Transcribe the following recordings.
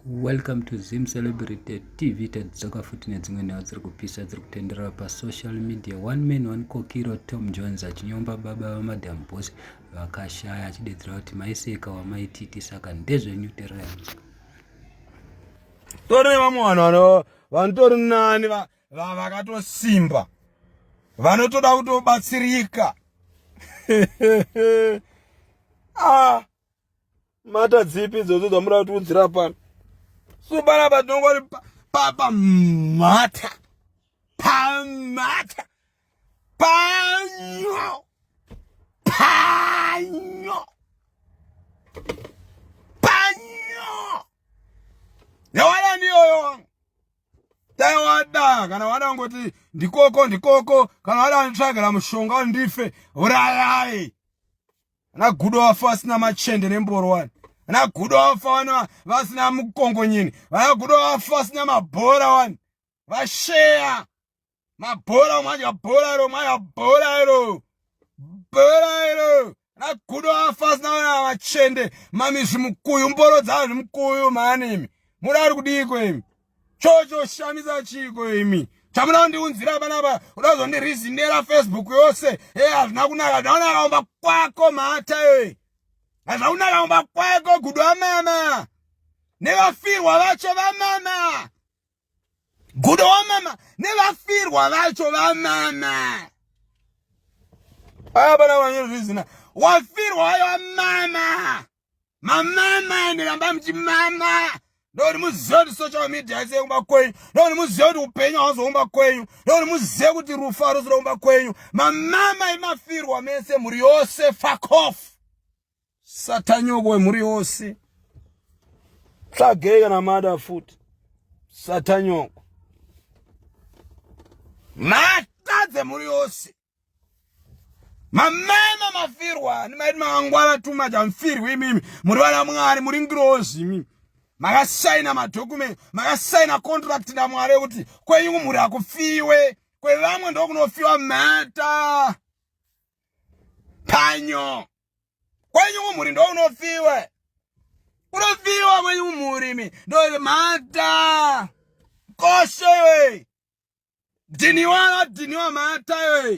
Welcome to Zim Celebrity TV tadzoka futi nedzimwe nhau dziri kupisa dziri kutenderera pasocial media one man one kokiro Tom Jones achinyomba baba vamadam boss vakashaya achidedzera kuti maiseka wamaititi saka ndezvenyu terai tori nevamwe vanhu vano vanotori nani vakatosimba vanotoda kutobatsirika ah. mata dzipi idzodzo dzamuri kutiudzira pano so panapa tinongori pamhata pamhata panyo panyo panyo yawana ndiyoyo wangu dai wada kana wada kungoti ndikoko ndikoko kana wada nditsvagera mushonga ndife urayai ana gudo vafa vasina machende nemboro wani ana gudo vafa vana vasina mukongonyini vana gudo vafa vasina mabhora wani vasheya mabhora umadya bhora iro umadya bhora iro bhora iro ana gudo vafa vasina vana machende mamizvi mukuyu mboro dzazvi mukuyu maanimi muri ari kudiiko imi chocho shamisa chiko imi chamuda kundiunzira panapa uda kuzondirizindera facebook yose e hazvina kunaka zvaunakaomba kwako mhata e hazvina kunakaomba kwako gudu wamama nevafirwa vacho vamama gudo wamama nevafirwa vacho vamama aya pana vanyezvizina wafirwa vayo vamama mamama ende ramba muchimama ndokuti muzive kuti social media ise kumba kwenyu ndokuti muzive kuti upenyu hauzoumba kwenyu ndokuti muzive kuti rufu haruzoda kumba kwenyu mamama imafirwa mese mhuri yose fakof satanyoko wemhuri yose tsvagei kana mada futi satanyoko mata dzemhuri yose mamama mafirwa ani maiti mangwara too much amfirwi imimi muri vana mwari muri ngirozi imimi makasaina madocument makasaina contract namwari ekuti kwenyu kumhuri akufiwe kwevamwe ndokunofiwa mhata panyo kwenyu kumhuri ndounofiwe unofiwa kwenyu kumhuri mi ndomhata koshewe dhiniwa dhiniwa matayo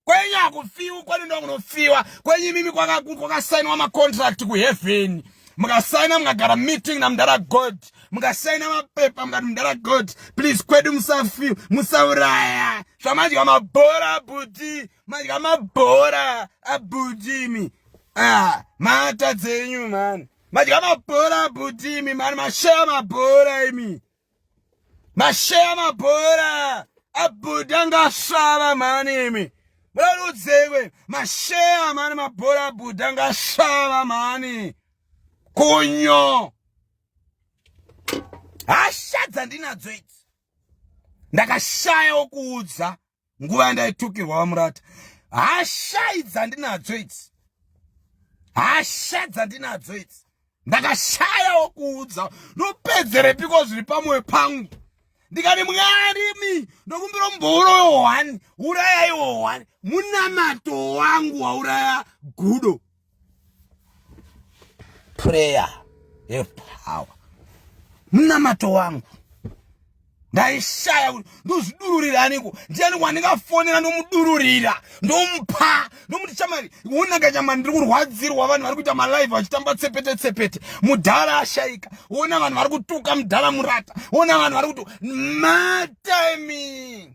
kwenyu akufiwi kwenu ndokunofiwa kwenyu imimi kwakasainwa macontract kuheaven mukasaina mukagara meeting namudara god mukasaina mapepa mukati mudara god please kwedu musafi musauraya zvamadya mabhora abudi madya mabhora abudimi ah, mata dzenyu mani madya mabhora abudimi mani mashaya mabhora imi masheya mabhora abuda ngasvava mani imi murarudzekwe masheya mani mabhora abuda ngasvava mani kunyo hasha dzandinadzo idzi ndakashaya wokuudza nguva yandaitukirwa vamurata hashai dzandinadzo idzi hasha dzandinadzo idzi ndakashayawo kuudza nopedzerepiko zviri pamwoyo pangu ndikati mwarimi ndokumbira mumbouro yohwani urayaiwo hwani munamato wangu wauraya gudo prayer have power munamato wangu ndaishaya kuti ndozvidururira aniko ndiani wandingafonera ndomudururira ndomupa ndomuti chamari wonaka chamari ndiri kurwadzirwa vanhu vari kuita malive vachitamba tsepete tsepete mudhara ashaika wona vanhu vari kutuka mudhara murata wona vanhu vari kuti matiming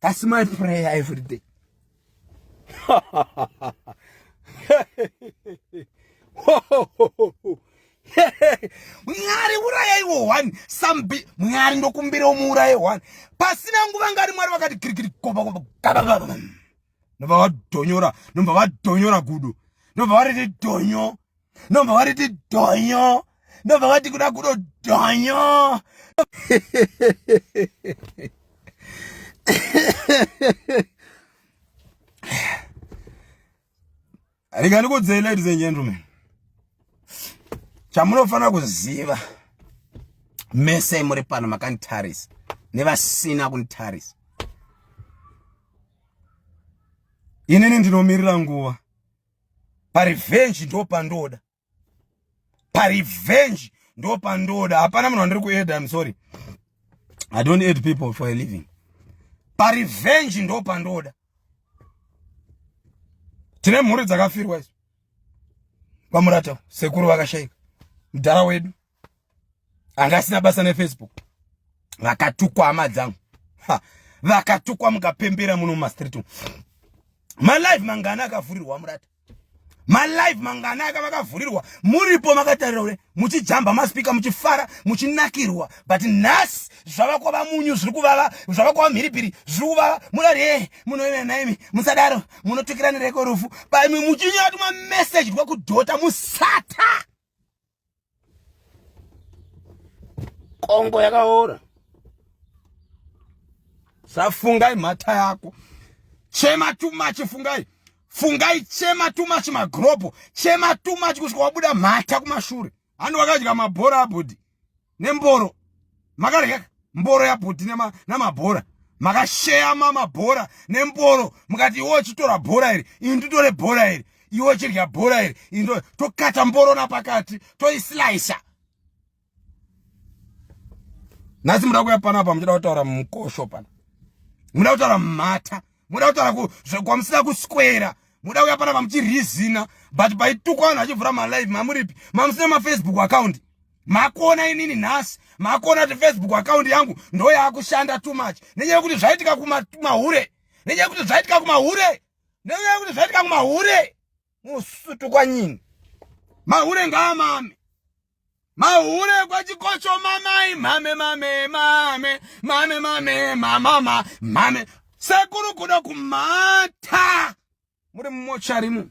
That's my prayer every day. mwari urayaiwo one sambi mwari ndokumbirawo muuraye one pasina nguva ngari mwari vakati kirikiri nobva vadhonyora nobva vadhonyora gudo nobva variti dhonyo ndomva wariti dhonyo ndomva wati kuda kudo dhonyo ringanikudzei ladies and gentlemen chamunofanira kuziva mese muri pano makanditarisa nevasina kunditarisa inini ndinomirira nguva parevenge ndo pandoda parevenge ndo pandoda hapana munhu wandiri kueda im sorry i don't aid people for a living parevenge ndo pandoda tine mhuri dzakafirwa isu vamurata sekuru vakashaika mdhara wedu anga asina basa nefacebook vakatukwa hama dzangu vakatukwa mukapembera muno mumastreet umu malife mangana akavhurirwa murata malife mangana aka vakavhurirwa muripo makatarira ure muchijamba maspika muchifara muchinakirwa but nhasi zvava kwava munyu zviri kuvava zvava kwava mhiripiri zviri kuvava munoti e munoina naimi musadaro munotukirana reko rufu but muchinyatwa message rwekudhota musata kongo yakaora safungai mhata yako chema too much fungai fungai chema too much magropo chema too much kusvika wabuda mhata kumashure handi wakadya mabhora abudi nemboro makarya mboro yabhuti namabhora makasheyama mabhora nemboro mukati iwe uchitora bhora iri ini nditore bhora iri iwe uchirya bhora iri ini tokata mboro napakati toisilaisa nhasi muda kuya panapa muchida kutaura mukosho pana muda kutaura mumhata muda kutaura kwamusina kuswera muda kuya panapa muchirizina but paitukwa vanhu vachivhura malive mamuripi mamusina mafacebook account makuona inini nhasi makuona kuti facebook account yangu ndo yaakushanda too much nenyaya yekuti zvaitika kumahure nenyaya yekuti zvaitika kumahure nenyaya yekuti zvaitika kumahure musutu kwanyini mahure ngaamame mahure kwachikocho mamai mame mame mame mame mame mamama mame sekuru kuda kumata muri mumocharimu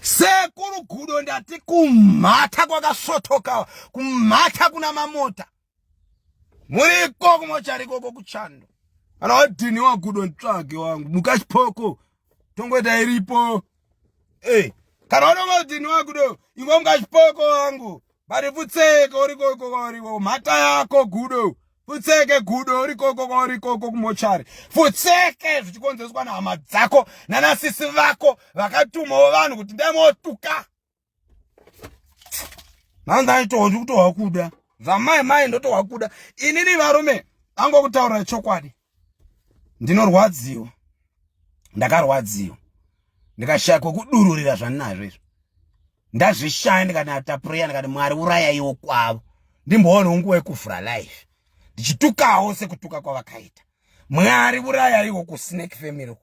sekuru gudo ndati kumhata kwakasvotoka kumhata kuna mamota muriko kumochari ikoko kuchando kana wadhini wagudo nditsvage wangu mukachipoko tongoita iripo e kana wanonga wadhini wagudo ingo mukachipoko wangu bari pfutseke uriko ikoko uriko mhata yako gudo pfutseke gudo urikoko kwaurikoko kumochari pfutseke zvichikonzereswa nehama dzako nanasisi vako vakatumawo vanhu kuti ndai motuka Now ndaitowa ndi kutowa kuda. Vamai mai ndotowa kuda. Inini varume ango kutaura chokwadi. Ndinorwadziwa. Ndakarwadziwa. Ndikashaya kwekudururira zvaninazvo izvo. Ndazvishaya ndikati atapureya ndikati Mwari urayaiwo kwavo. Ndimboona ungu wekufura life. Ndichitukawo sekutuka kwavakaita. Mwari urayaiwo ku snake family.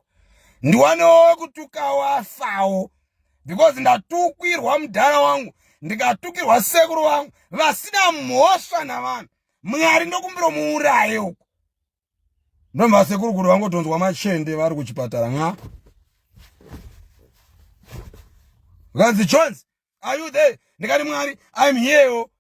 Ndiwanewo kutukawo afawo. because ndatukwirwa mudhara wangu ndikatukirwa sekuru vangu vasina mhosva navanhu mwari ndokumbiro muuraye uku ndomva sekuru kuti vangotonzwa machende vari kuchipatara nxa vakanzi jones are you there ndikati mwari im here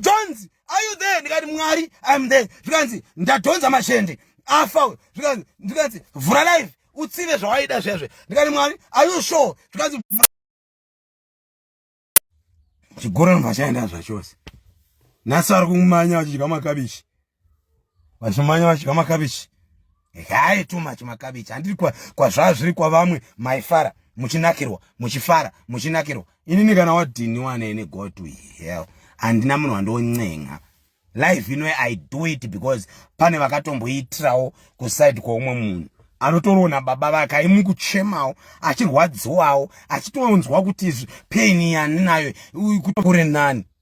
Jones, are you there? Ndikati Mwari, I'm there. Zvikanzi ndadhonza mashende. Afa uyo. Zvikanzi zvikanzi vhura live. Utsive zvawaida zvezve. Ndikati Mwari, are you sure? Zvikanzi Chigoro nvachaenda zvachose. Nhasi ari kumanya vachidya makabichi. vashomanya vadya makabichi haye too much makabichi handiri kwazvazviri kwavamwe maifara muchinakirwa muchifara muchinakirwa inini kana wadhiniwa nene go to hell handina munhu wandoncenga life ino i do it because pane vakatomboitirawo kuside kweumwe munhu anotorona baba vake aimukuchemawo achirwadziwawo achitonzwa kuti pain yandinayo kure nani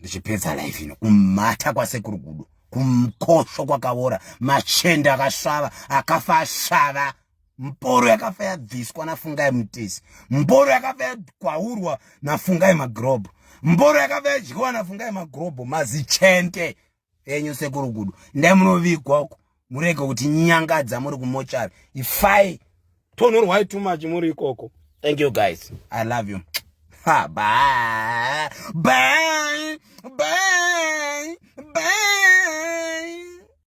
ndichipedza life ino kumhata kwasekuru gudo kumkosho kwakavora machende akasvava akafa asvava mboro yakafa yabviswa nafungai mutesi mboro yakafa yagwaurwa nafungai magrobho mboro yakafa yadyiwa nafungai magrobho mazichende enyu sekuru gudu ndai munovigwa uko murege kuti nyangadza muri kumochari ifai tonhorwai too much muri ikoko thank you guys i love you ha bye bye bye bye